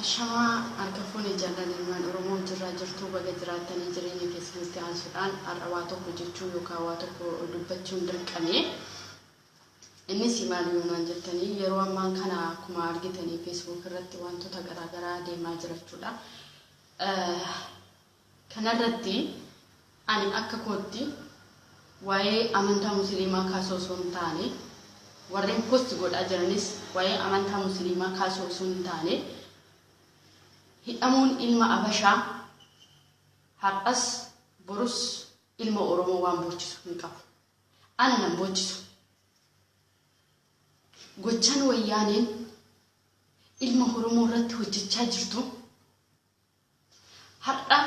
Ashamaa harka fuune jallan ilmaan oromoo jirraa jirtuu baga jiraattanii jireenya keessanitti aansudhaan har'a waa tokko jechuu yookaa waa tokko dubbachuun dirqame innisi maali yoo naan jettanii yeroo ammaan kana akkuma argitanii facebook irratti waantota garaa garaa deemaa jirachuudha Kanarratti ani akka kootti waa'ee amantaa musiliimaa kaasuu osoo hin taane, warreen post godhaa jiranis waa'ee amantaa musiliimaa kaasuu osoo hin taane, hidhamuun ilma abashaa har'as borus ilma oromoo waan boochisu hin qabu. Ana nan boochisu. Gochaan wayyaaneen ilma oromoo irratti hojjechaa jirtu, Har'a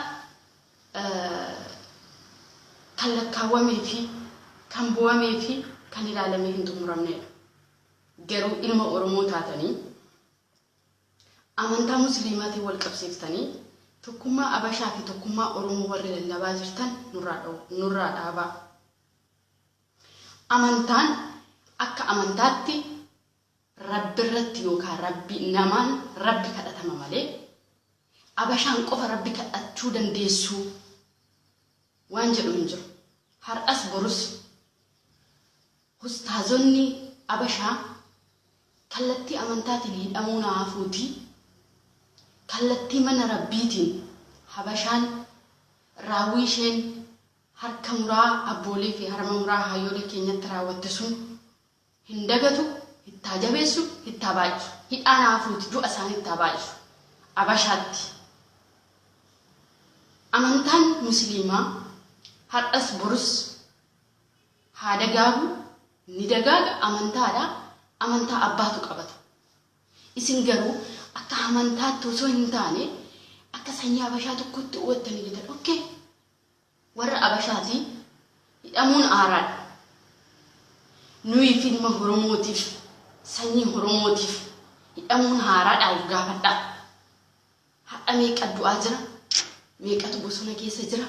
kan lakkaawwamee fi kan boo'amee fi kan ilaalamee hin xumuramneedha. Garuu ilma Oromoo taatanii amantaa Musliimaatiin wal qabsiiftanii tokkummaa Abashaa fi tokkummaa Oromoo warri lallabaa jirtan nurraa dhaabaa. Amantaan akka amantaatti Rabbirratti yookaa Rabbi namaan Rabbi kadhatama malee Abashaan qofa Rabbi kadhachuu dandeessuu? Waan jedhu hin jiru. Har'as borus Hustaazonni Abashaa kallattii amantaatiin hidhamuun haa hafuutii kallattii mana Rabbiitiin Habashaan raawwii isheen harka muraa abboolee fi harma muraa haayyolee keenyatti raawwatte sun hin dagatu ittaa jabeessu ittaa baay'isu hidhaa naa fuuti du'a isaanii ittaa baay'isu abashaatti amantaan musiliimaa har'as borus haa dagaagu ni dagaaga amantaadha amantaa abbaatu qabata isin garuu akka amantaatti osoo hin taane akka sanyii abashaa tokkotti hubattanii jirtan okay Warra Abashaati hidhamuun aaraadha. Nuyiif ilma horomootiif sanyii horomootiif hidhamuun haaraadhaa of gaafadhaa. Har'a meeqa du'aa jira? Meeqatu bosona keessa jira?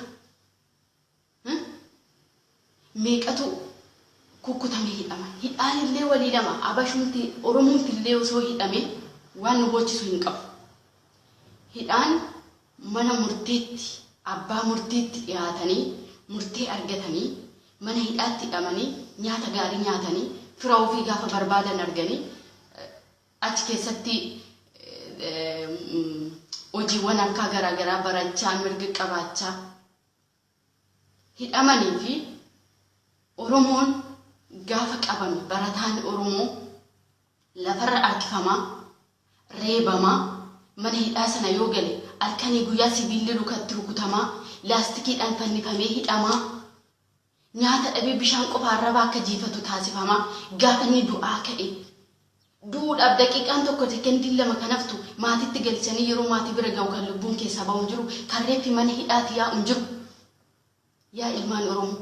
meeqatu kukkutamee hidhama. Hidhaan illee walii lama. Abashumti, Oromumti illee osoo hidhame waan nu boochisu hin qabu. Hidhaan mana murtiitti, abbaa murtiitti dhiyaatanii, murtee argatanii, mana hidhaatti hidhamanii, nyaata gaarii nyaatanii, fira ofii gaafa barbaadan arganii, achi keessatti hojiiwwan harkaa garaa garaa barachaa, mirga qabaachaa, hidhamanii fi Oromoon gaafa qabame barataan Oromoo lafarra arkifamaa, reebamaa, mana hidhaa sana yoo gale alkanii guyyaa sibiilli lukatti rukutamaa, laastikiidhaan fannifamee hidhamaa, nyaata dhabee bishaan qofa arraba akka jiifatu taasifamaa, gaafa inni du'aa ka'e du'uudhaaf daqiiqaan tokko sekendiin lama kan haftu maatiitti galchanii yeroo maatii bira ga'u kan lubbuun keessaa ba'u hin jiru kan reeffi mana hidhaati yaa'u hin jiru yaa ilmaan oromoo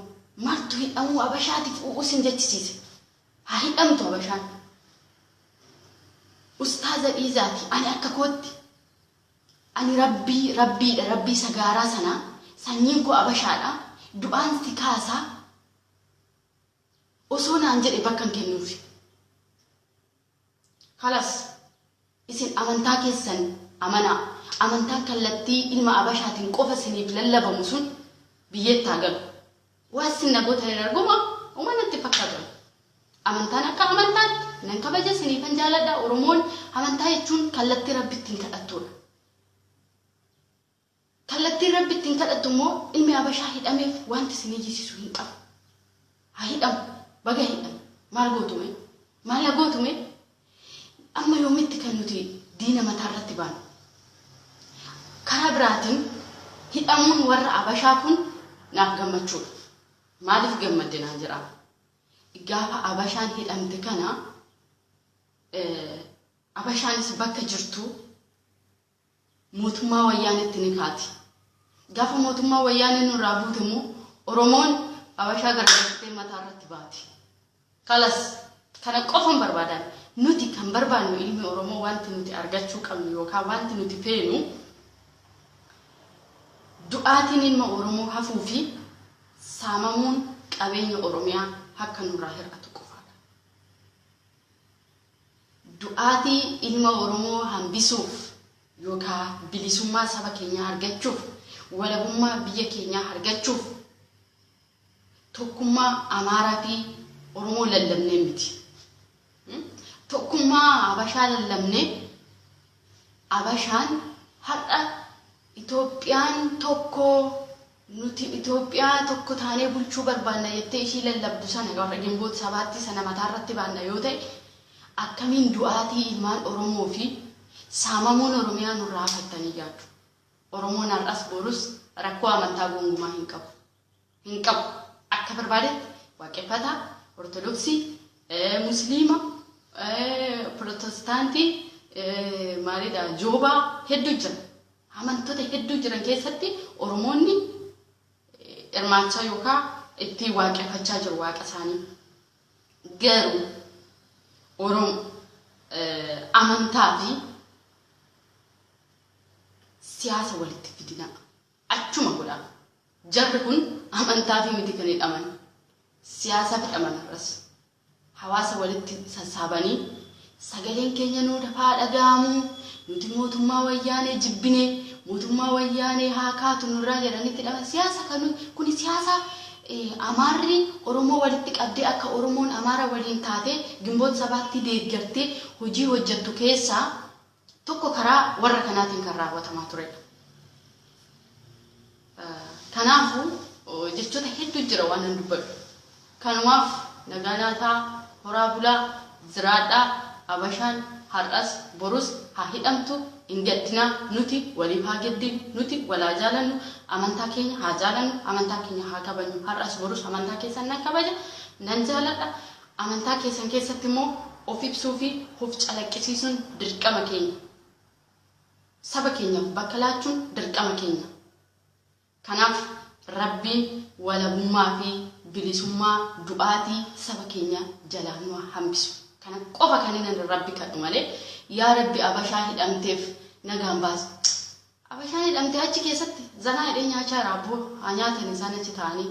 martu hidhamuu abashaatiif u'uu sin jechisiise haa hidhamtu abashaan ustaaza dhiizaati ani akka kootti ani rabbii rabbiidha rabbii sagaaraa sanaa sanyiin koo abashaadha du'aan si kaasaa osoo naan jedhe bakkan kennuufi. Kalas isin amantaa keessan amanaa amantaan kallattii ilma abashaatin qofa isiniif lallabamu sun biyyeetti haa galu. Waan isin na gootan hin argu moo homaa natti hin fakkaatu ani. Amantaan akka amantaatti nan kabaja isiniifan jaaladha oromoon amantaa jechuun kallattii rabbi ittiin kadhattuudha. Kallattiin Rabbi ittiin kadhattu immoo ilmi habashaa hidhameef waanti isin iyyisisu hin qabu. Haa hidhamu. Baga hidhame. Maal gootu mee? Maal haa gootu mee? Amma yoomitti kan nuti diina mataa irratti baanu? Karaa biraatiin hidhamuun warra habashaa kun naaf gammachuu dha. Maaliif gammadde naan jedhaa. Gaafa habashaan hidhamte kana habashaanis bakka jirtuu, mootummaa wayyaaneetti ni kaati. Gaafa mootummaa wayyaanee nurraa buute immoo Oromoon Habashaa gargaartee mataa irratti baati. Kalas kana qofan barbaadaan nuti kan barbaannu ilmi Oromoo wanti nuti argachuu qabnu yookaan wanti nuti feenu du'aatiin ilma Oromoo hafuu fi saamamuun qabeenya Oromiyaa akka nurraa hir'atu qofaadha. Du'aatii ilma Oromoo hambisuuf yookaa bilisummaa saba keenyaa argachuuf, walabummaa biyya keenyaa argachuuf tokkummaa Amaaraa fi Oromoo lallabnee miti. Tokkummaa Habashaa lallabnee. Abashaan har'a Itoophiyaan tokko, nuti Itoophiyaa tokko taanee bulchuu barbaanna jettee ishii lallabdu sana warra Ginboot Sabaatti sana mataarratti baanna yoo ta'e akkamiin du'aatii ilmaan Oromoo fi saamamuun Oromiyaa nurraa hafattanii yaaddu? Oromoon har'as borus rakkoo amantaa gongumaa hin qabu. hin qabu. Akka barbaadetti Waaqeffataa, Ortodoksii, Musliima, Pirotostaantii, maalidha Joobaa hedduu jira. Amantoota hedduu jiran keessatti Oromoonni hirmaachaa yookaa itti waaqeffachaa jiru waaqa isaanii. Garuu Orom amantaa fi siyaasa walitti fidinaa. Achuma godha. Jarri kun amantaafii miti kan hidhaman. Siyaasaaf hidhaman har'as. Hawaasa walitti sassaabanii sagaleen keenya nuu dafaa dhaga'amuu, nuti mootummaa Wayyaanee jibbine, mootummaa Wayyaanee haa kaatu nurraa jedhanii itti hidhaman. Siyaasa kan kuni siyaasa Amaarri Oromoo walitti qabdee akka Oromoon Amaara waliin taatee Ginboot Sabaattii deeggartee hojii hojjettu keessaa tokko karaa warra kanaatiin kan raawwatamaa turedha. Kanaafuu jechoota hedduun jira waanan dubbadhu. Kanumaaf nagaa laataa, horaa bulaa, jiraadhaa, Abashaan har'as borus haa hidhamtu, hin gaddinaa, nuti waliif haa gaddinu, nuti wal haa jaalannu, amantaa keenya haa jaalannu, amantaa keenya haa kabajnu, har'as borus amantaa keessan nan kabaja, nan jaaladha, Amantaa keessan keessatti immoo of ibsuu fi of calaqqisiisuun dirqama keenya. Saba keenyaaf bakka laachuun dirqama keenya. Kanaaf Rabbiin walabummaa fi bilisummaa du'aatii saba keenya jalaa nu haa hambisu. Kana qofa kanin ani Rabbi kadhu malee yaa Rabbi Abashaa hidhamteef nagaan baasi. Abashaan hidhamtee achi keessatti zanaa jedhee nyaachaa jira abboo haa nyaatani isaan achi taa'anii.